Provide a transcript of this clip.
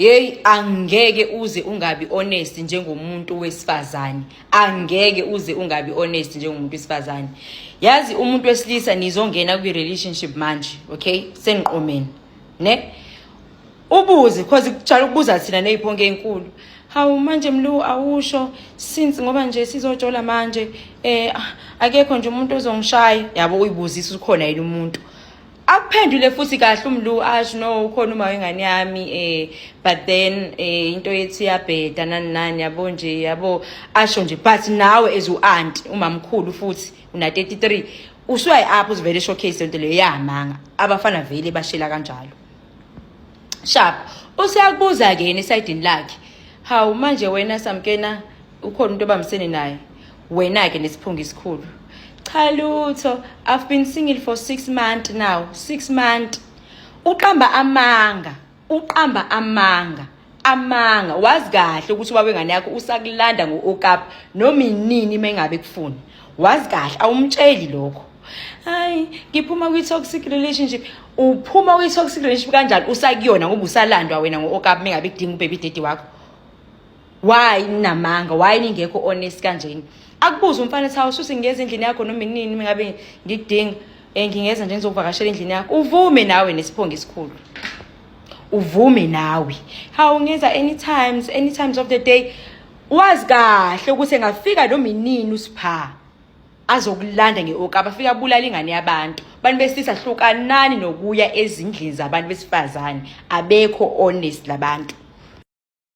Hey angeke uze ungabi honest njengomuntu wesifazane. Angeke uze ungabi honest njengomuntu wesifazane. Yazi umuntu wesilisa nizongena kwi relationship manje, okay? Seniqomeni. Ne? Ubuze because kutshala ukubuza thina neziphonke ezinkulu. Hawu manje mlu awusho since ngoba nje sizojola manje eh akekho nje umuntu ozongishaya. Yabo uyibuzisa ukhona yini umuntu? akuphendule futhi kahle umlu ash no ukhona uma wengane yami eh but then eh into yethi yabheda nani nani yabo nje yabo asho nje but nawe as u aunt umamkhulu futhi una 33 usuyayi apho uzivele showcase lento leyo yamanga abafana vele bashela kanjalo sharp useyakubuza ke yena esayidini lakhe hawu manje wena samkena ukhona umuntu obambisene naye wena-ke nesiphunga isikhulu cha lutho i've been single for six month now six month uqamba amanga uqamba amanga amanga wazi kahle ukuthi ubaba wengane yakho usakulanda ngo-okap noma inini uma engabe kufuni wazi kahle awumtsheli lokho hayi ngiphuma kwi-toxic relationship uphuma kwi-toxic relationship kanjani usakuyona ngoba usalandwa wena ngo-okap uma engabe kudinga ubebi dede wakho why ninamanga why ningekho honest kanjeni akubuze umfana ethi hawu suthi ngingeza endlini yakho noma inini ngabe ngikudinga eh, ngingeza nje ngizokuvakashela endlini yakho uvume nawe nesiphongo esikhulu uvume nawe hawu ngenza anytimes anytimes of the day wazi kahle ukuthi engafika noma inini usipha azokulanda ngeoka abafika abulala ingane yabantu abantu besilisa hlukanani nokuya ezindlini zabantu besifazane abekho honest labantu